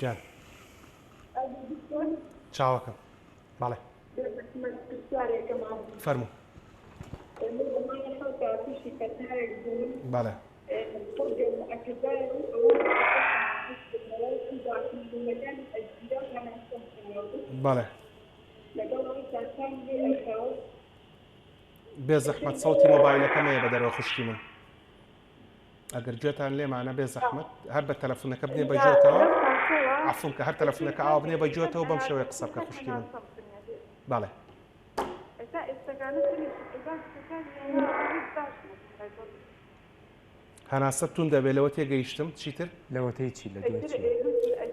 گیان چاوەکەم بەڵێ فەرموو بەڵێ بەڵێ بێزەحمەت سەوتی مۆبایلەکەم مەیە بە دەرەوە خوشکی من ئەگەر گوێتان لێمانە بێ زەحمت هەر بە تەلەفونەکە بێ بە جۆتەوە عفون کە هەر تەلەفونەکە ئاو بنێ بە جۆتەوە بەم شێوەیە قسە بکە خوشکی من بەڵێ هەناسە تون دەبێت لەوە تێگەیشتم چیتر لەوەتەی چی لە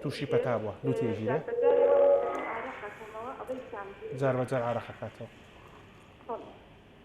تووشی پەتا بووە لو تێژیرە جار بەجار عراقەکاتەوە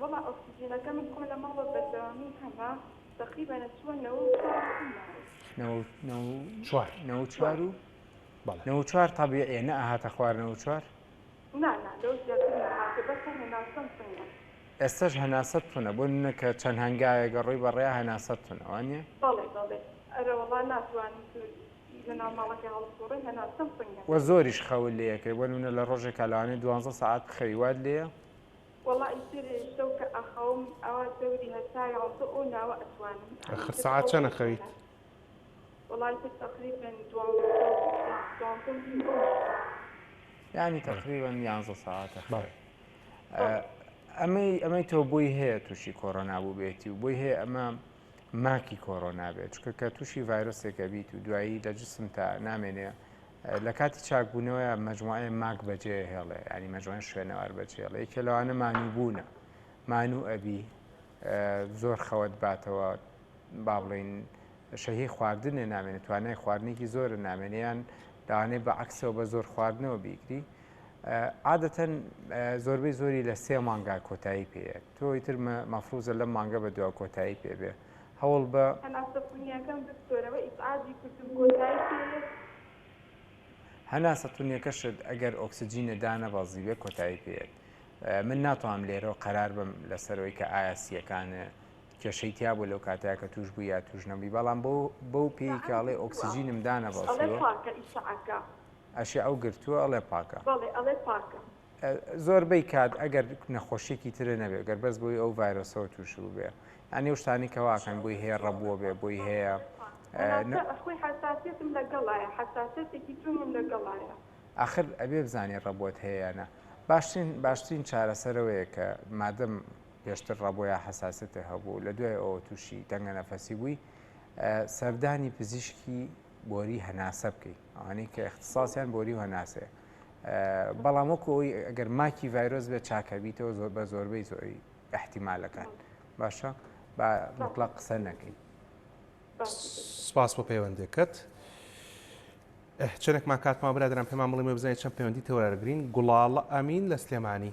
وەڵا ئۆکسجینەکە من خۆ لە ماڵە بەردەوامی هەمە تەقریبا نەچووە نەوە نەوە چوار تابیعە نە ئاهاتە خوارنەوە چوار ئێستش هەناسەت تونە بۆ نەکە چەند هەنگاوێگە ڕۆی بەڕێ هەناسەت تونەوانە وە زۆریش خەول لەکەی بۆ منە لە ڕۆژێکە لەوانێ دوانزە ساعت بخەوی واد لێە وەڵا ئیتر شەو کە ئەخەوم ئەوە دەوری هەتا یازدە ئەو ناوە ئەتوانم ئەخر سەعات چەن ئەخەویت؟ وەڵا ئیتر تەقریبەن دوانزە و دوانزە و نیم ئەو شتانە. یانی تەقریبەن یانزە سەعات ئەخەوێ. ئەمەی ئەمەی تۆ بۆی هەیە تووشی کۆرۆنا بووبێتی و بۆی هەیە ئەمە ماکی کۆرۆنا بێت چکە کە تووشی ڤایرۆسێکە بیت و دوایی لە جسمتا نامێنێ لە کاتی چاکبوونەوەیا مەجموعەی ماک بەجێ ئەهێڵێ یانی مەجموعەی شوێنەوار بەجێڵێ یەکێ لەوانە مانووبوونە مانوو ئەبی زۆر خەوت باتەوە با بڵین شەهی خواردنێ نامێنێت توانای خواردنێکی زۆرە نامێنیان داوانێ بە عکسەوە بە زۆر خواردنەوە بیگری عادەتەن زۆربەی زۆری لە سێ مانگا کۆتایی پێ تۆی تر مەفروزە لە مانگە بە دو کۆتایی پێبێ هەوڵ بە. هەناسە تونیەکەم بسپۆرەوە ئیسعادی کردم کۆتای پێ. هەناسە تونیەکەشت ئەگەر ئۆکسجینێ دانەبەزیبێ کۆتای پێیەت من ناتوانم لێرەوە قەرار بم لەسەر ئەوی کە ئایا سیەکانێ کێشەی تیا بوو لەو کاتەیە کە توش بوو یا توش نەبووی بەڵام بۆ بەو پێی کە ئەڵێ ئۆکسجینم دانەبەزیوە ئەشێ ئەو گرتووە ئەڵێ پاکە. زۆربەی کات ئەگەر نەخۆشیەکی ترە نەبێ گەر بەس بۆی ئەو ڤایرۆسەوە تووش بووبێ یانی و شتانی کەواکەن بۆی هەیە ڕەبووە بێ بۆی هەیە خۆی حساسیتم لەگەڵایە حساسەتێکی جوونم لەگەڵایە ئاخر ئەبێ بزانانی ڕەبوت هەیەە باشترین باشترین چارەسەرەوەیە کە مادەم پێشتر ڕەبۆیان حساسەتە هەبوو لە دوای ئەوە تووشی دەنگە نەفەسی بووی سەردانی پزیشکی بۆری هەناسە بکەیت ئەوانەی کە اختصاسیان بۆری و هەناسەیە بەڵام وەکو ئەوی ئەگەر ماکی ڤایرۆس بێت چاکەبییتەوە زۆر بە زۆربەی زۆری احتیمالەکان باشە با مطلق قسە نەکەین سپاس بۆ پەیوەندەکەت چەندێکمان کاتمان برادران پێمان بڵێ مە بزانین چەند پەیوەندی تەوەرەگرین گوڵاڵە ئەمین لە سلێمانی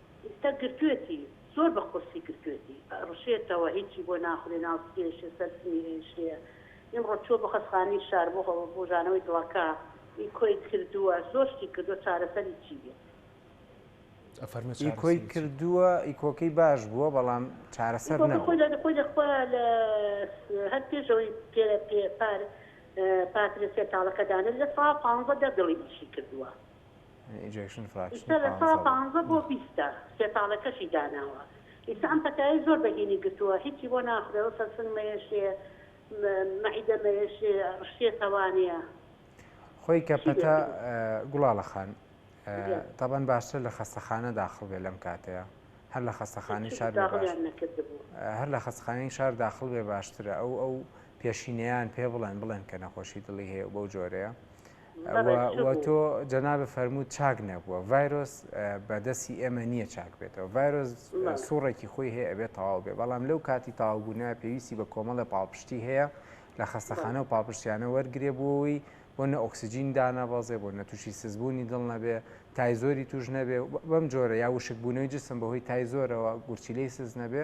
ئیستا گرتوێتی زۆر بە قورسی گرتوێتی ئەڕشێتەوە هیچی بۆ ناخورێ ناو تێشێ سەر سمی ئێشێ ئیمڕۆ چووە بۆ خەسخانەی شار بۆ بۆ ژانەوەی دڵەکە ئی کۆی کردووە زۆر شتی کردووە چارەسەری چی بێت. ئی کۆی کردووە ئی کۆکەی باش بووە بەڵام چارەسەر نەبوو. ئی کۆکە خۆی لە خۆی لە خۆی هەر پێش ئەوەی پێ پێ پار پاترێ سێ تاڵەکە دانێ لە سا پانزە دە دڵی ئیشی کردووە. ئیستا لە سەدا پانزە بۆ بیستە سێ تاڵەکەشی داناوە ئیستا ئەم پەتایەی زۆر بەهینی گرتووە هیچی بۆ ناخورێ وەسە سنگ مەیەشێ مەعیدە مەیەشێ ڕشتێ تەوانێ خۆی کە پەتا گوڵاڵە خان تەبەن باشتر لە خەستەخانە داخڵ بێ لەم کاتەیە هەر لە خەستەخانی شار هەر لە خەستخانەی شار داخڵ بێ باشترە ئەو ئەو پێشینەیان پێ بڵێن بڵێن کە نەخۆشی دڵی هەیە بەو جۆرەیە و تۆ جەنابت فەرمووت چاک نەبووە، ڤایرۆس بە دەستی ئێمە نییە چاک بێتەوە، ڤایرۆس سوڕێکی خۆی هەیە ئەبێت تەواو بێت، بەڵام لەو کاتی تەواوبوونە پێویستی بە کۆمەڵێ پاڵپشتی هەیە لە خەستەخانە و پاڵپشتیانە وەرگرێ بۆ ئەوەی بۆ نە ئۆکسجین دانەبەزێ بۆ نە تووشی سزبوونی دڵ نەبێ تای زۆری توش نەبێ بەم جۆرە یا وشکبوونەوەی جسم بەهۆی تای زۆرەوە گورچیلەی سز نەبێ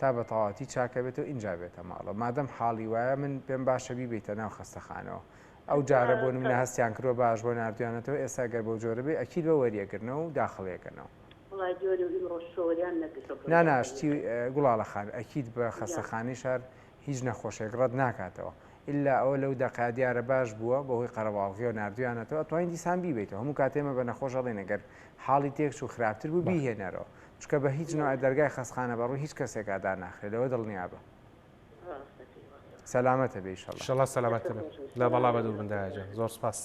تا بە تەواوەتی چاکەبێتەوە ئینجا بێتە ماڵەوە مادەم حاڵی وایە من پێم باشە بیبیتە ناو خەستەخانەوە ئەو جارە بۆ نمونە هەستیان کردوە باش بۆ ناردویانەتەوە ئێستا گەر بەو جۆرە بێ ئەکید بە وەریەگرنەوە و داخڵیەکەنەوە نانا شتی گوڵاڵە خان ئەکید بە خەستەخانی شار هیچ نەخۆشێک ڕەت ناکاتەوە ئللا ئەوە لەو دەقا دیارە باش بووە بەهۆی قەرەباڵغی و نردویانەتەوە توانین دیسان بیبێتەوە هەموو کاتێمە بە نەخۆش هەڵێنەگەر حاڵی تێکچ و خراپتر بوو بیهێنەرەوە چونکە بە هیچ نۆعێ دەرگای خەسخانە بە ڕووی هیچ کەسێکا داناخرێ لەوە دڵنیابە سەلامەتە بێ ئیشەڵا شەڵا سەلامەتە بێ لە بەڵا بە دوور بندایجان زۆر سپاس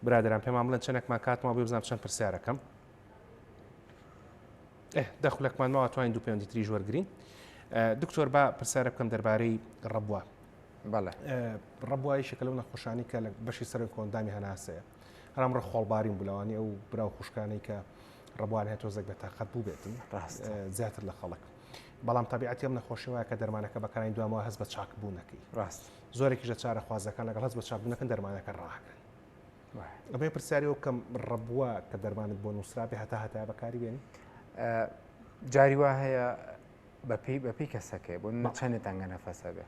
برادران پێمان بڵێن چەندێکمان کاتمان بێ بزانام چەند پرسیارەکەم دەخولەکمان ماوە توانین دوو پێوەندی تریژ وەرگین دکتۆر با پرسیارە بکەم دەربارەی ڕبووە بەڵێ ڕبوایشێکە لەو نەخۆشانی کە لە بەشی سەر کۆندامی هەناسەیە هەرام ڕە خۆڵبارین بوو لەوانی ئەو برا و خوشکانەی کە ڕەبوان هەیە تۆزێک بە تااقەت بوو بێتن زیاتر لە خەڵک بەڵام تەبیعەتی ئەم نەخۆشیەوە کە دەرمانەکە بەکارین دوامەوە هەز بە چاک بوونەکەی ڕاست زۆرێکی ژە چارە خوازەکان لەگەڵ هەز بە چاک بوونەکەن دەرمانەکە ڕاکرن ئەمەی پرسیاری و کەم ڕەبووە کە دەرمانت بۆ نووسرابێ هەتا هەتا بەکاری بێن جاری وا هەیە بەپی بەپی کەسەکەی بۆ نمە چەندێ تەنگە نەفەسە بێ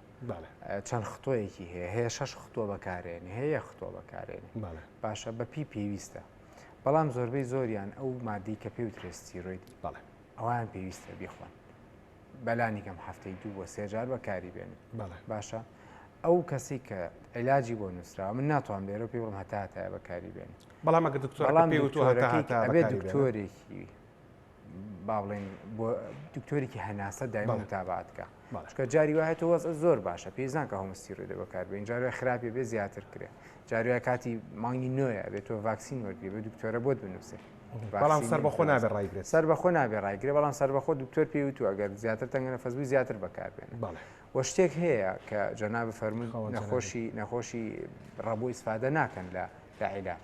چەند خطۆیەکی هەیە هەیە شەش خطۆ بەکارێنی هەیە خطۆ بەکارێنی باشە بەپی پێویستە بەڵام زۆربەی زۆریان ئەو مادی کە پێی وترێستیرۆیت بەڵێ ئەوان پێویستە بیخۆن بەلانی کەم هەفتەی دوو بۆ سێجار بەکاری بێن باشە ئەو کەسی کە علاجی بۆ نووسرا من ناتوان لێرە پێ بڵم هەتاتە بەکاری بێن بەڵام دکتۆرەکەی دکتۆرێکی با بڵێن بۆ دکتۆرێکی هەناسە دایمە متابات بکە چکە جاری وایە تۆ وەز زۆر باشە پێزان کە هەمستیرۆی دە بەکار بێن جارە خراپێ بێ زیاتر کرێ جارە کاتی مانگی نوێە بێت تۆ ڤاکسین وەرگری بە دکتۆرە بۆت بنووسێ بەڵام سەر بەخۆ نابێ ڕایگرێ سەر بەخۆ نابێ ڕایگرێ بەڵام سەر بەخۆ دکتۆر پێی وتو ئەگەر زیاتر تەنگەنە فەزبوو زیاتر بەکار بێن وە شتێک هەیە کە جەنا بفەرمون نەخۆشی نەخۆشی ڕەبوو ئیسفادە ناکەن لە لە عیلاج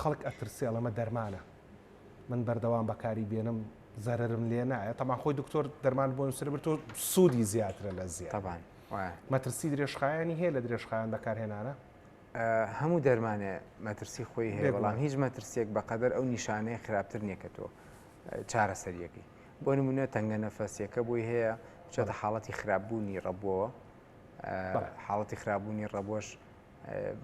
خەڵک ئەترسێ ئەڵێ مە دەرمانە من بەردەوام بەکاری بێنم زەرم لێ نایە تەمان خۆی دکتۆر دەرمان بۆ نووسرە بر تۆ سوودی زیاترە لە زیابان مەترسی درێژخایانی هەیە لە درێژخایان بەکارهێنانە هەموو دەرمانێ مەترسی خۆی هەیە بەڵام هیچ مەترسێک بەقەدەر ئەو نیشانەیە خراپتر نیەکە تۆ چارەسەریەکەی بۆ نمونە تەنگە نەفەسیەکە بۆی هەیە چۆتە حاڵەتی خراپبوونی ڕەبووەوە حاڵەتی خراپبوونی ڕەبۆش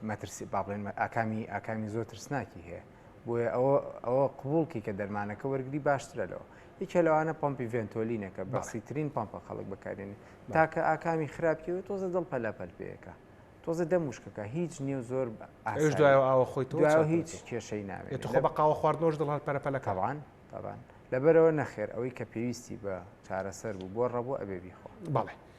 مەترسی با بڵێن ئاکامی ئاکامی زۆر ترسناکی هەیە بۆیە ئەوە ئەوە قوڵکی کە دەرمانەکە وەرگری باشترە لەوە یەکێ لەوانە پمپی ڤێنتۆلینەکە بەسیترین پمپە خەڵک بەکارێن تاکە ئاکامی خراپیەوە تۆزە دڵ پەلەپەل پێەکە تۆزە دە مشکەکە هیچ نیو زۆر ئەش دوای ئاوە خۆی تۆ هیچ کێشەی ناوێت خۆ بە قاوە خواردنۆش دڵ هەر پەرەپەلەکەوان تاوان لەبەرەوە نەخێر ئەوەی کە پێویستی بە چارەسەر بوو بۆ ڕەبوو ئەبێ بیخۆ بەڵێ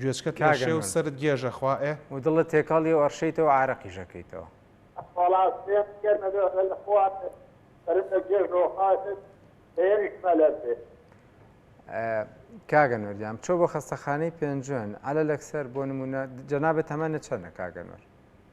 گوێچکە ترشێ و سەرت گێژە خوا ئێ. و دڵت تێکەڵی و ئەڕشێیتەوە و عارەقیش ئەکەیتەوە. وەڵا سێم کێر نەبێ بە لە خوات سەرم لە گێژەوە خاکت سێیەمیش مەلەر بێ. کاک ئەنوەر گیان بچۆ بۆ خەستەخانەی پێنجوێن عەلەلەکسەر بۆ نموونە جەنابت تەمەنت چەنە کاک ئەنوەر؟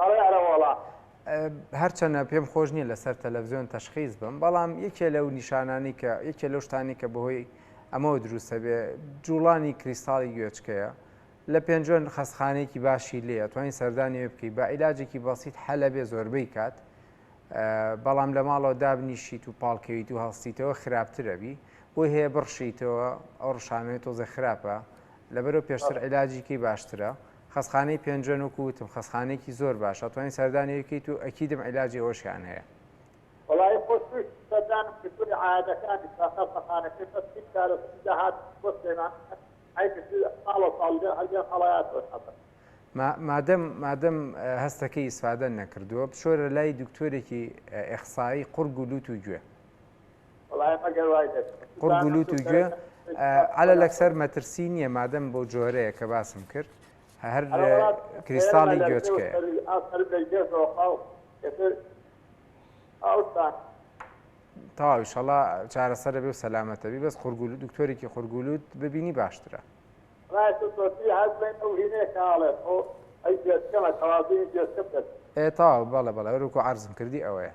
ئەڵێ ئەرە وەڵا. هەرچەنە پێم خۆش نیە لەسەر تەلەفزیۆن تەشخیس بم بەڵام یەکێ لەو نیشانانەی کە یەکێ لەو شتانەی کە بەهۆی ئەمەوە دروستە بێ جوڵانی کریستاڵی گوێچکەیە لە پێنجوێن خەستخانەیەکی باشی لێ ئەتوانی سەردانی وێ بکەی بە عیلاجێکی بەسیت حەلە بێ زۆربەی کات بەڵام لە ماڵەوە دابنیشیت و پاڵکەویت و هەڵستیتەوە خراپترەبی بۆی هەیە بڕشیتەوە ئەو ڕشانەوەی تۆزێ خراپە لەبەرەوە پێشتر عیلاجیکەی باشترە خەستخانەی پێنجوێن وەکو وتم خەستخانەیەکی زۆر باشە ئەتوانی سەردانی بکەیت و ئەکیدم عیلاجی ئەوەشیان هەیە. وەڵایی خۆش ویست سەردانم کردوە عیادەکانیش بە خەستەخانەکەی بەس هیچ چارەسەری داهاتووی بۆ سلێمانی نیە ئەی کردووی ساڵە ساڵ لێ هەر لێم هەڵەیاتەوە حەزەکەم مادەم مادەم هەستەکەی ئیسفادە نەکردووە بچۆرە لای دکتۆرێکی ئیخسایی قوڕگ و لوت و گوێ. بەڵایم ئەگەر وای دەبێ. قوڕگ و لوت و گوێ عەلە لەکسەر مەترسی نیە مادەم بۆ جۆرەیە کە باسم کرد هەر کریستاڵی گوێچکەیە. تەواو ئیشەڵا چارەسەرە بێ و سەلامەتە بی بەس قورگول دکتۆرێکی قورگولوت ببینی باشترە تاو بەڵە بەڵێ روکو عرزم کردی ئەوەیە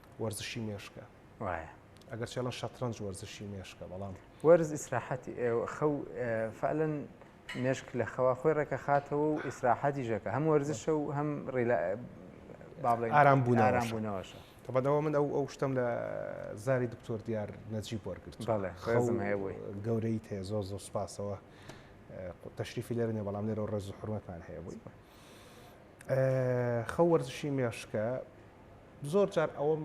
وەرزشی مێشکە وایە ئەگەر چێڵن شەترەنج وەرزشی مێشکە بەڵام وەرز ئیسراحەتی خەو فعلن مێشک لە خەوا خۆی ڕێکە خاتەوە و ئیسراحەتی ژەکە هەم وەرزشە و هەم ڕیلا ئارام بوون ئارام بوونەوەشە تەبەدەوە من ئەو ئەو شتم لە زاری دکتۆر دیار نەجی وەرگرت خەزم هەیە بووی گەورەی تێ زۆر زۆر سپاسەوە تەشریفی لێرنێ بەڵام لێرە ڕێز و حرمەتان هەیە بووی خەو وەرزشی مێشکە زۆر جار ئەوەم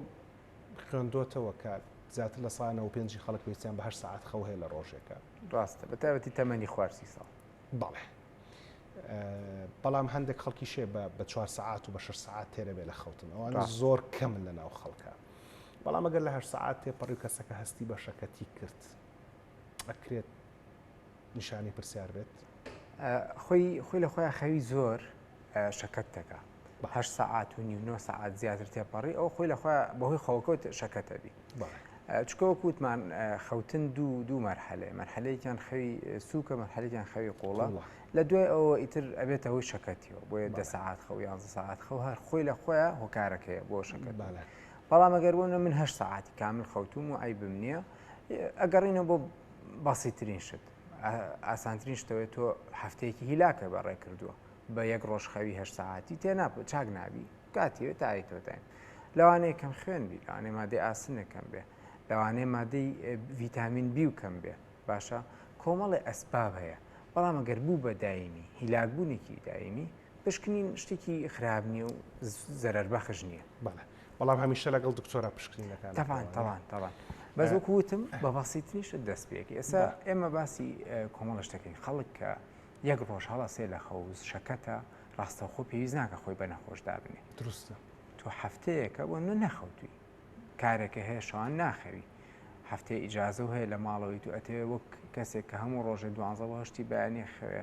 خوێندۆتەوە کە زیاتر لە سانەوە پێنجی خەڵک پێستیان بە هەر سعات خەو هەیە لە ڕۆژێکە ڕاستە بە تایبەتی تەمەنی خوارسی ساڵ بەڵێ بەڵام هەندێک خەڵکی شێ بە چوار سعات و بە شش سعات تێرە بێ لە خەوتن ئەوانە زۆر کەم لە ناو خەڵکە بەڵام ئەگەر لە هەر سعات تێپەڕی کەسەکە هەستی بەشەکەتی کرد ئەکرێت نیشانی پرسیار بێت خۆی خۆی لە خۆیان خەوی زۆر شەکەت دەکە بەه سەعات و نیو نۆ سەعات زیاتر تێپەڕی ئەو خۆی لە خۆ بەهۆی خەوەکەوت شەکەتەبی چکەوە کووتمان خەوتن دوو دوو مەرحەلێ مەرحەلەیەکیان خەوی سووکە مەرحەلێکیان خەوی قوڵە لە دوای ئەوە ئیتر ئەبێتە هۆی شەکەتیەوە بۆیە دە سەعات خەو یان سەعات خەو هەر خۆی لە خۆیان هۆکارەکەی بۆ شەکەت بالە بەڵام ئەگەر بۆ من هە ساعتی کامل خەوتوم و ئەی بم نییە ئەگەڕینەوە بۆ بەسیترین شت ئاسانترین شتەوەی تۆ هەفتەیەکی هیلاکە بە ڕێ کردووە بە یەک ڕۆژ خەوی هە ساعتی تێ ناپە چاک نابی کاتیوێت تای تۆتاین لەوانەیە کەم خوێن بی لەوانێ مادەی ئاسنەکەم بێ لەوانێ مادەی ڤیتامین بی و کەم بێ باشە کۆمەڵی ئەسباب هەیە بەڵام ئەگەر بوو بە داینی هیلاکبوونێکی داینی پشکنین شتێکی خراپ نییە و زەرەر بەخش نییە بەڵێ بەڵام هەمیشە لەگەڵ دکتۆرە پشکنینەکان تەوان تەوان تەوان بەس وەکو وتم بە بەسیتریش دەست پێکی ئێستا ئێمە باسی کۆمەڵە شتەکەین خەڵک کە یەک ڕۆژ هەڵە سێ لە خەوز شەکەتە ڕاستەخۆ پێویست ناکە خۆی بە نەخۆش دابنێ دروستە تۆ هەفتەیەکە بۆ نە نەخەوتوی کارێکە هەیە شەوان ناخەوی هەفتەی ئیجازە و هەیە لە ماڵەوەی تو ئەتەوێ وەک کەسێک کە هەموو ڕۆژێ دوانزەهشتی بەیانی خوێ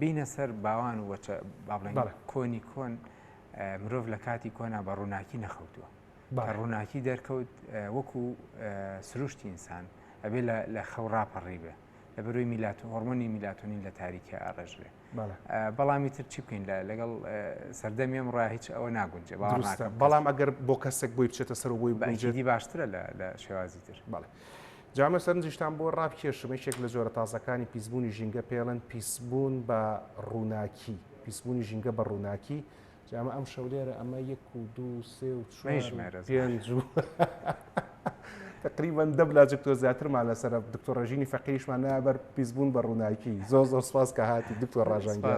بینە سەر باوان و وەچە بابڵێن کۆنی کۆن مرۆڤ لە کاتی کۆنا بە ڕووناکی نەخەوتووە بە ڕووناکی دەرکەوت وەکو سروشتی ئینسان ئەبێ لە خەو ڕاپەڕی بێ لە بەروی میلات و هۆرمۆنی میلاتونین لە تاریکی ئاڕژ بێ بەڵامی تر چی بکەین لەگەڵ سەردەم ئێم ڕا هیچ ئەوە ناگونجێ بەڵام ئەگەر بۆ کەسێک بۆی بچێتە سەر بۆی بەجدی باشترە لە شێوازی تر بەڵێ جا ئەمە سەرنجیشتان بۆ ڕابکێشم یەکێک لە جۆرە تازەکانی پیسبوونی ژینگە پێڵێن پیسبوون بە ڕووناکی پیسبوونی ژینگە بە ڕووناکی جامە ئەم شەولێرە ئەمە یەک و دوو سێ و پێنج و تقریبان دەبلا دکتۆر زیاترمان لەسەر دکتۆر ڕژینی فەقیشمان نابەر پیسبوون بە ڕووناکی زۆ زۆر سپاس کە هاتی دکتۆر ڕژانگە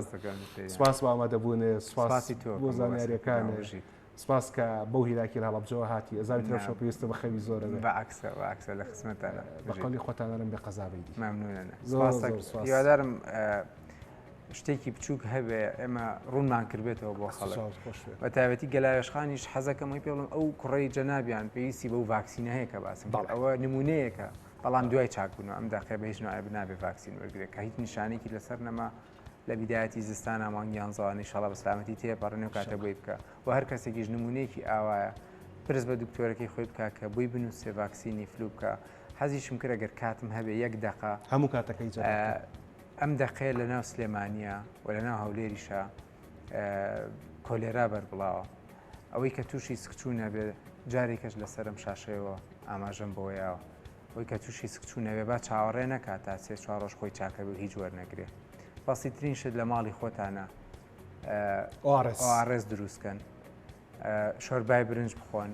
سپاس بە ئامادەبوونێ سپاسی تۆ بۆ زانیاریەکانژیت سپاس کە بەو هیلاکی هەڵەبجەوە هاتی ئەزاوی ترە شەو پێویستە بە خەوی زۆرە بە عکسە بە عکسە لە خزمەتانە بە قەولی خۆتانەرم بێ قەزابی دی ممنونە یادارم شتێکی بچووک هەبێ ئێمە ڕوونمان کردێتەوە بۆ خەڵ بە تایبەتی گەلاوێشخانیش حەزەکەمەوەی پێڵم ئەو کوڕی جەنابیان پێویستی بەو ڤاکسینە هەیە کە باسم باڵ ئەوە نمونەیەکە بەڵام دوای چاکبوون ئەم داقێ بە هیچ نایە بنابێ ڤاکسین وەرگێک کە هیچ نیشانێکی لەسەر نەما لە بیدایەتی زستانا مانگیان زۆان نیشاڵە بە سلامەتی تێپەڕێنێ و کاتە بۆی بکە و هەر کەسێکیش نمونەیەکی ئاوایە پرس بە دکتۆرەکەی خۆی بکە کە بۆی بنووسێ ڤاکسینی فلو بکە حەزیشم کرد ئەگەر کاتم هەبێ یەک دەقە هەموو کاتەکەی جەرگ بکە. ئەم دەقەیە لە ناو سلێمانیە و لە ناو هەولێریشە کۆلێرا بەربڵاوە ئەوەی کە تووشی سکچوو نەبێت جارێکەش لەسەرم شاشەیەوە ئاماژەم بۆیاوە. ئەوەی کە توشی سکچو نەبێ با چاوەڕێ نەکا تا سێ چوار ڕۆژ خۆی چاکە بێ و هیچ وەرنەگرێ بەسیترین شت لە ماڵی خۆتانا ئۆئاڕێس دروست کەن شۆربای برنج بخۆن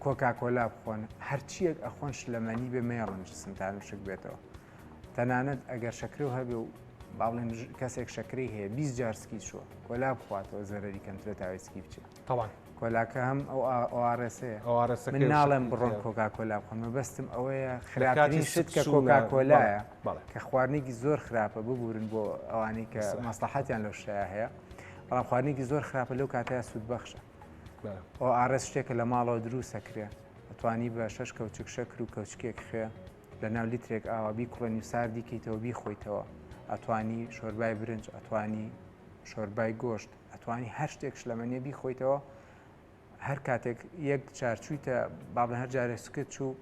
کۆکاکۆلا بخۆن هەرچیەک ئەخۆن شلەمەنی بێ مێڕن جسمتان وشک بێتەوە تەنانەت ئەگەر شەکرە و هەبێ و باڵێن کەسێک شەکری هەیە 20 جارسکی چوە کۆلا بخواتەوە زەرری کەمترە تاوێسکی بچێت تەوان کۆلاکە هەم ئەو ئۆئارێسەیە ئۆئارێسەکە من ناڵێم بڕۆن کۆکا کۆلا بخۆن مەبەستم ئەوەیە خراپترین شت کە کۆکا کۆلایە کە خواردنێکی زۆر خراپە ببورن بۆ ئەوانی کە مەسلحاتیان لەو شتەیە هەیە بەڵام خواردنێکی زۆر خراپە لەو کاتەیە سوود بەخشە ئەو ئارەس شتێکە لە ماڵەوە دروستە کرێ ئەتوانی بە شەش کەوچک شەکر و کەوچکێک خوێ لە ناو لیترێک ئاوابی کوڕێنی و ساردیکەیتەوە بیخۆیتەوە ئەتوانی شۆربای برنج ئەتوانی شۆربای گۆشت ئەتوانی هەر شتێک شلەمەنیە بیخۆیتەوە هەر کاتێک یەک چارچوویتە بابن هەر جارێ سکت چوو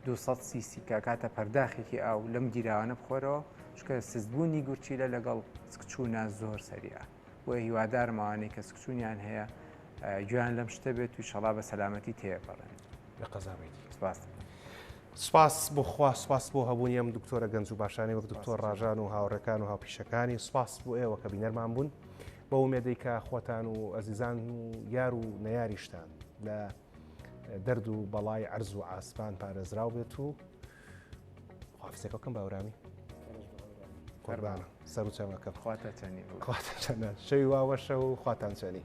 200 سیسی کاکاتە پەرداخێکی ئاو لەم گیراوانە بخۆرەوە شکە سزبوونی گورچیلە لەگەڵ سکچوونە زۆر سەریە بۆ هیوادارمەوانەی کە سکچوونیان هەیە گویان لەم شتە بێت و شەڵا بە سەلامەتی تێپەڕێن لە قەزابێتی سپاس. سپاس بۆ خوا سپاس بۆ هەبوونی ئەم دکتۆرە گەنج و باشانی وەک دکتۆر ڕژان و هاوڕێکان و هاوپیشەکانی سپاس بۆ ئێوە کە بینەرمان بوون. بەو مێدەی کە خۆتان و ئەزیزان و یار و نەیاریشتان لە دەرد و بەڵای ئەرز و ئاسمان پارێزراو بێت و خواافسێکەکەم باورامی قوربانە سەر و چەمەکە خواتە چەنی خواتە چەنە شەوی واوەشە و خواتان چەنی